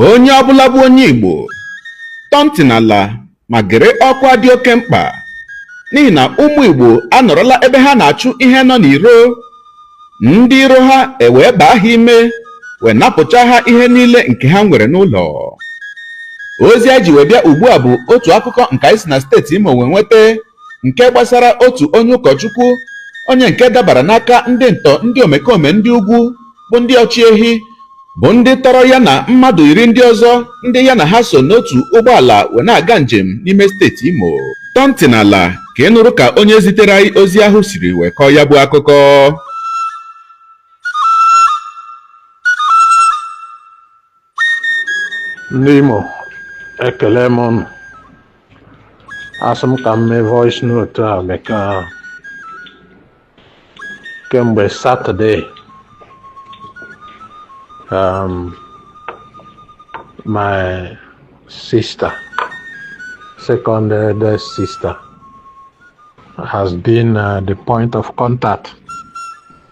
onye ọbụla bụ onye igbo tọọ ntị n'ala ma gere ọkwa dị oke mkpa n'ihi na ụmụ igbo anọrọla ebe ha na-achụ ihe nọ n'iro ndị iro ha ewee baa ha ime wee napụcha ha ihe niile nke ha nwere n'ụlọ ozi anyị ji wee bịa ugbu a bụ otu akụkọ nke anyị si na steeti imo wee nweta nke gbasara otu onye ụkọchukwu onye nke dabara n'aka ndị ntọ ndị omekome ndị ugwu bụ ndị ọchị ehi bụ ndị tọrọ ya na mmadụ iri ndị ọzọ ndị ya na ha so n'otu ụgbọala wee na-aga njem n'ime steeti Imo tọọ ntị n'ala ka ị nụrụ ka onye zitere anyị ozi ahụ siri wee kọọ ya bụ akụkọ ndị Imo ekelee m ụnụ asị m ka m mee voice note a maka kemgbe Saturday um, my sister second eldest sister has been uh, the point of contact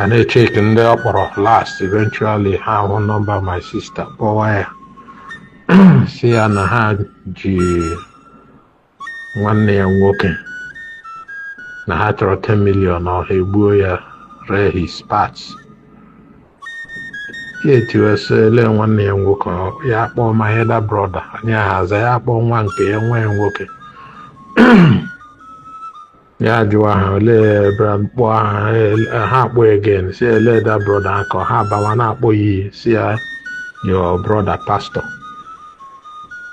a na-echeki ndị ọ kpọrọ last eventually ha hụ number my sister kpọwa ya sị ya na ha ji nwanne ya nwoke na ha chọrọ 10 million or ha egbuo ya ree his parts ya etiwe sị ele nwanne ya nwoke ọ- ya akpọọ my elder brother anyị ahaza ya akpọọ nwa nke ya nwa ya nwoke ya jụwa ha olee kpọọ aha ha akpọ again sị ele the brother akọ ha abawa na-akpọ ya iyi sị ya your brother pastor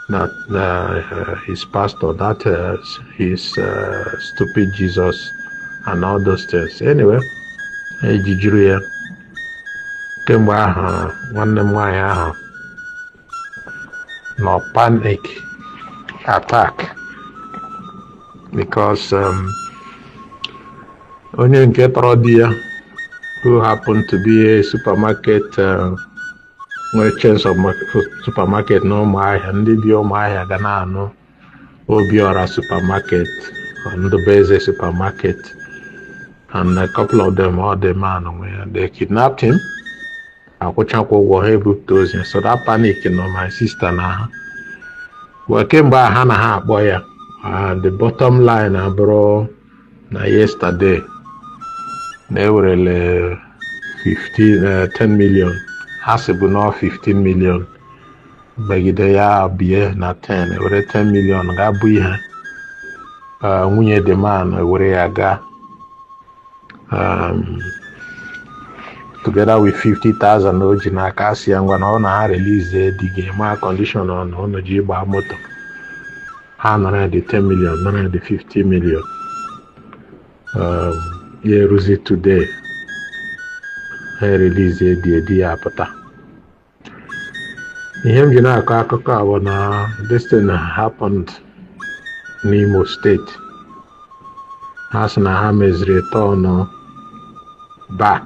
that uh, his pastor that uh, his uh, stupid jesus and all those things anyway ejijuru ya kemgbe ahụ nwanne m nwaanyị ahụ nọ panic attack because um, onye nke tọrọ di ya who happened to be a supermarket uh, nwere chains of supermarket na ụmụahịa ndị bi ụmụahịa ga na-anụ Obiora supermarket, Ndụbụeze supermarket, and a couple of them, all the man, where they kidnapped him. akwụchakwa ụgwọ ha ebupụta ozu ya. so that panic nọ my sister n'ahụ well kemgbe ahụ na ha akpọ ya and the bottom line abụrụ na yesterday na ewerele 15 10 million ha sịbu na 15 million megide ya bie na 10 ewere 10 million ga bụ ihe nwunye the man ewere ya gaa um, together with 50,000 o ji n'aka sị ya ngwa na ọ na ha release di gị ma condition ọ na ụnụ ji gbaa moto ha nara ya the 10 million nara ya the 50 million um, ya eruzi today ha erelease di ya di ya apụta ihe m ji na-akọ akụkọ a bụ na this thing happened n'Imo State ha sị na ha meziri turn back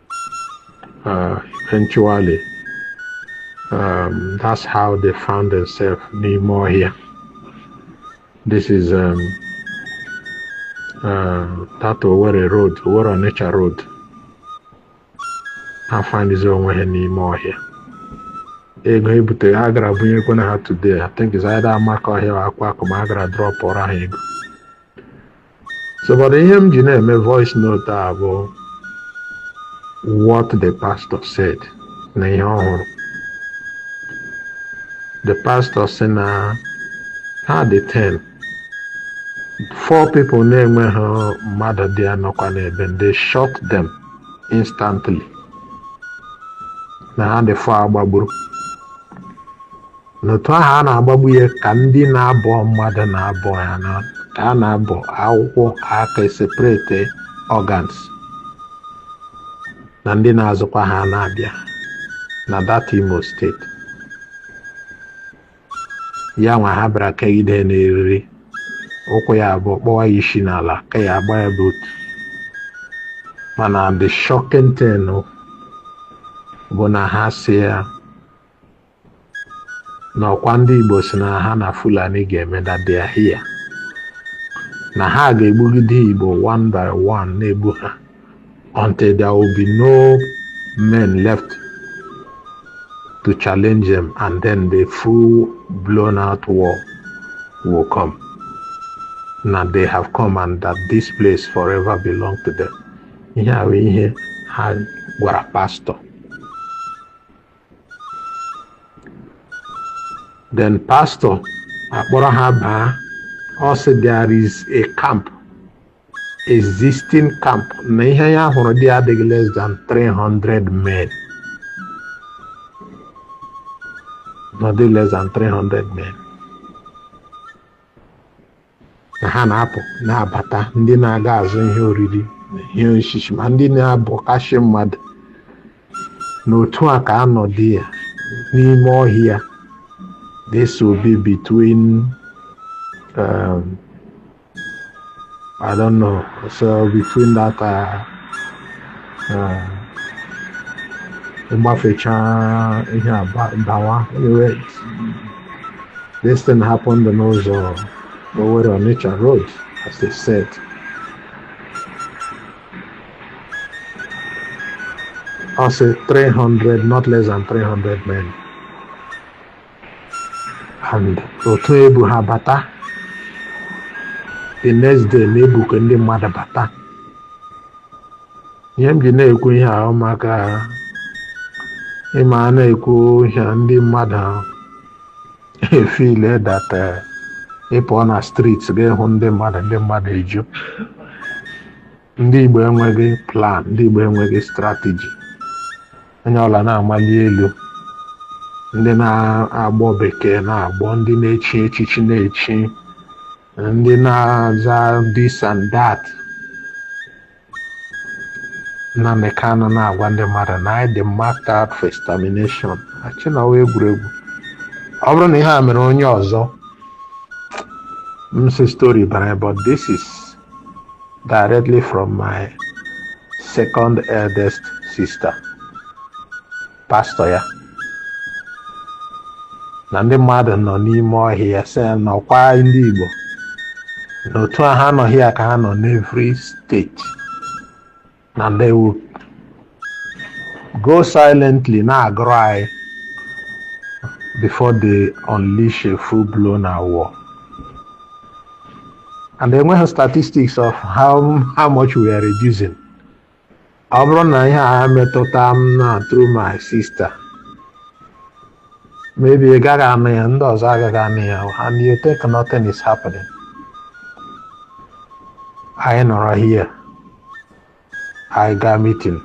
uh, eventually um, that's how they found themselves n'ime ọhịa this is um, uh, that Owerri road Owerri Onitsha road ha findizi onwe ha n'ime ọhịa ego ebute a gara bunyekwana ha today I think it's either Amakohia or Akwakuma a gara drọpụrụ ha ego So but ihe m ji na-eme voice note a bụ what the pastor said na ihe ọ hụrụ the pastor sị na ha dị 10 four people na-enweghị mmadụ dị anọkwa n'ebe they shot them instantly na ha dị four agbagburu n'otu ahụ a na-agbagbu ya ka ndị na-abọ mmadụ na-abọ ya na ka a na-abọ ọkụkọ aka eseparate organs na ndị na-azụkwa ha na-abịa na that Imo State ya nwa ha bịara kegide n'eriri ụkwụ ya abụọ kpọwa ya isi n'ala ka ya agba ya boot mana the shocking thing bụ na ha sị ya na ọkwa ndị Igbo sị na ha na Fulani ga-eme that they are here na ha ga-egbugide Igbo one by one na-egbu ha until there will be no men left to challenge them and then the full blown out war will come na they have come and that this place forever belong to them ihe a bụ ihe ha gwara pastor then pastor akpọrọ ha baa ọ sị there is a camp existing camp na ihe ya hụrụ dị adịghị less than 300 men not less than 300 men na ha na-apụ na-abata ndị na-aga azụ ihe oriri ihe osisi ma ndị na-abọkashị mmadụ na otu a ka ha nọdị ya n'ime ọhịa this will be between um, I don't know so between that uh, ịgbafechaa ihe a dawa iwe this thing happened n'ụzọ Owerri Onitsha road as they said I say 300 not less than 300 men and otu e bu ha bata the next day na ebuke ndị mmadụ bata ihe m ji na-ekwu ihe ahụ maka ị ma a na-ekwu ihe a, ndị mmadụ e-feel that eh, ị pụọ na street ga-ehụ ndị mmadụ ndị mmadụ eju ndị Igbo enweghị plan ndị Igbo enweghị strategy onye ọbụla na-amali elu ndị na-agbọ bekee na-agbọ ndị na-echi echichi na-echi ndị na-aza this and that Nnamdi Kanu na-agwa ndị mmadụ na anyị dị marked out for extermination e chee na ọ wụ egwuregwu ọ bụrụ na ihe a mere onye ọzọ m sị story but uh but this is directly from my second eldest sister pastor ya na ndị mmadụ nọ n'ime ọhịa sị na ọkwa ndị Igbo na otu a ha nọ here ka ha nọ n'every state na they will go silently na-agụrụ anyị before they unleash a full blown war and enweghị statistics of how, how much we are reducing ọ bụrụ na ihe a metụta m na through my sister maybe ị gaghị anụ ya ndị ọzọ agaghị anụ ya and you think nothing is happening anyị nọrọ here anyị gaa meeting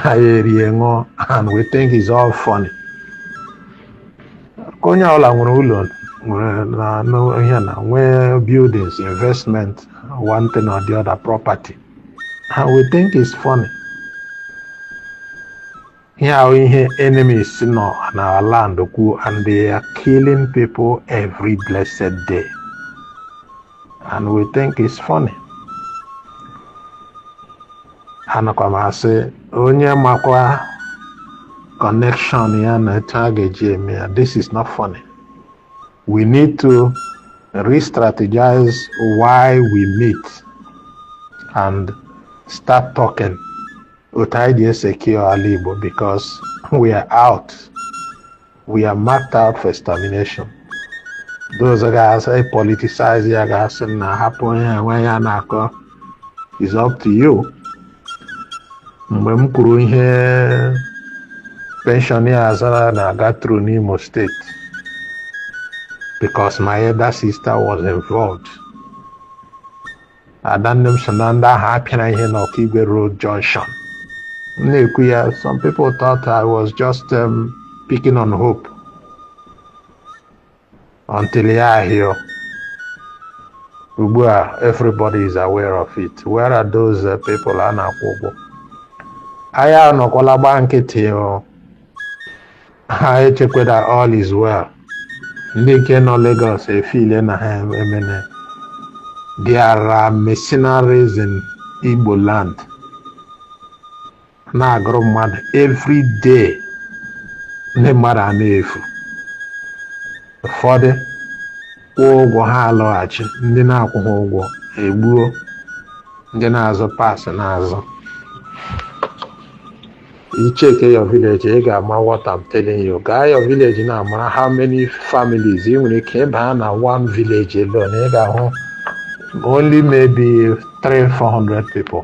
anyị erie ṅụọ and we think is all funny ka onye ọbụla nwere ụlọ nwere ihe na nwee buildings investment one thing or the other property and we think is funny Ihe a ihe enemies nọ on our land kwuo and they are killing people every blessed day. And we think it's funny. Anakwa m asị onye makwa connection ya na etu a ga-eji eme ya this is not funny. We need to re-strategize why we meet and start talking. otu anyị dị e-secure ala Igbo because we are out we are marked out for extermination those ga e-politicize ya ga-asị na hapụ ihe nwaanyị a na-akọ is up to you mgbe m kwuru ihe pensioners na-aga through n'Imo State because my elder sister was involved adanne m so na ndị ahụ a pịara ihe n'Okigwe road junction m na-ekwu ya some people thought I was just um, picking on Hope until ya ahịọ ugbu a everybody is aware of it where are those uh, people a na-akwụ ụgwọ anyị anọkwala gbaa nkịtị o ha echekweda all is well ndị nke nọ Lagos efile na ha emene there are mercenaries in Igbo land na-agụrụ mmadụ every day ndị mmadụ a na-efu ụfọdụ kwụọ ụgwọ ha alọghachi ndị na-akwụghị ụgwọ egbuo ndị na-azụ parts na-azụ ị check your village ị ga-ama what I'm telling you gaa your village now mara how many families ị nwere ike ịbaa na one village alone ị ga-ahụ only maybe 300-400 people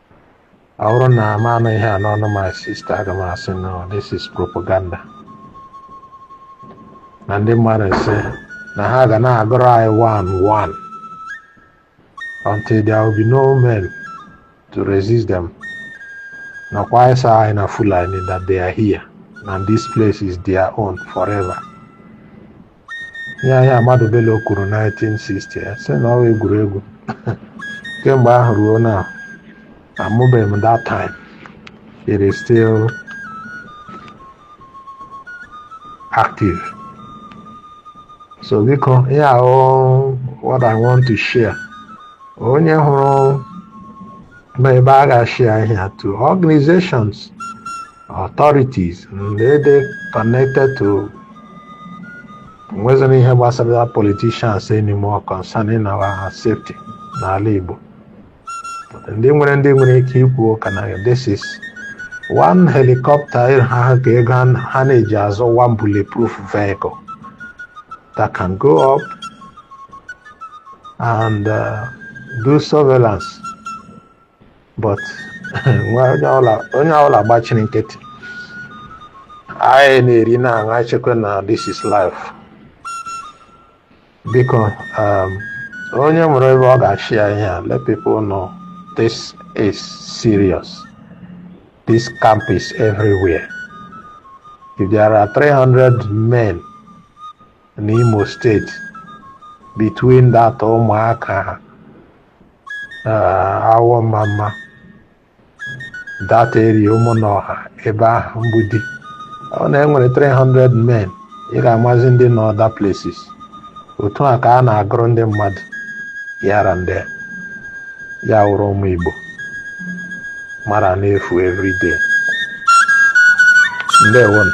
ọ bụrụ na m anụ ihe a n'ọnụ my sister aga m asị no this is propaganda na ndị mmadụ a sị na ha ga na-agụrụ anyị one one until there will be no men to resist them nakwa ịsa anyị na Fulani that they are here and this place is their own forever ihe ahụ Ahmadu Bello kwuru 1960 anyị sị na ọ wụ egwuregwu kemgbe ahụ ruo now amụbeghị m that time it is still active so biko ya wụ why I want to share onye hụrụ ma ebe a ga-ashare ihe to organizations authorities ndị dị connected to o nwezighị ihe gbasara politicians anymore concerning our safety n'ala Igbo ndị nwere ndị nwere ike ikwu ụka na this is one helicopter ha ka ego ha na-eji azụ one bulletproof vehicle that can go up and uh, do surveillance but onye ọla gbachiri nkịtị anyị na-eri na-aṅụ anyị chekwa na this is life biko um, onye nwere ebe ọ ga-ashare ihe a let people know this is serious this camp is everywhere if there are 300 men in Imo State between that Ụmụaka Awọ Ọmamma that area Ụmụnọha ebe ahụ Mgbidi ọ na e nwere 300 men you can imagine ndị nọ other places otu a ka a na-agụrụ ndị mmadụ here and there ya wụrụ ụmụ Igbo mara na-efu everyday ndewonu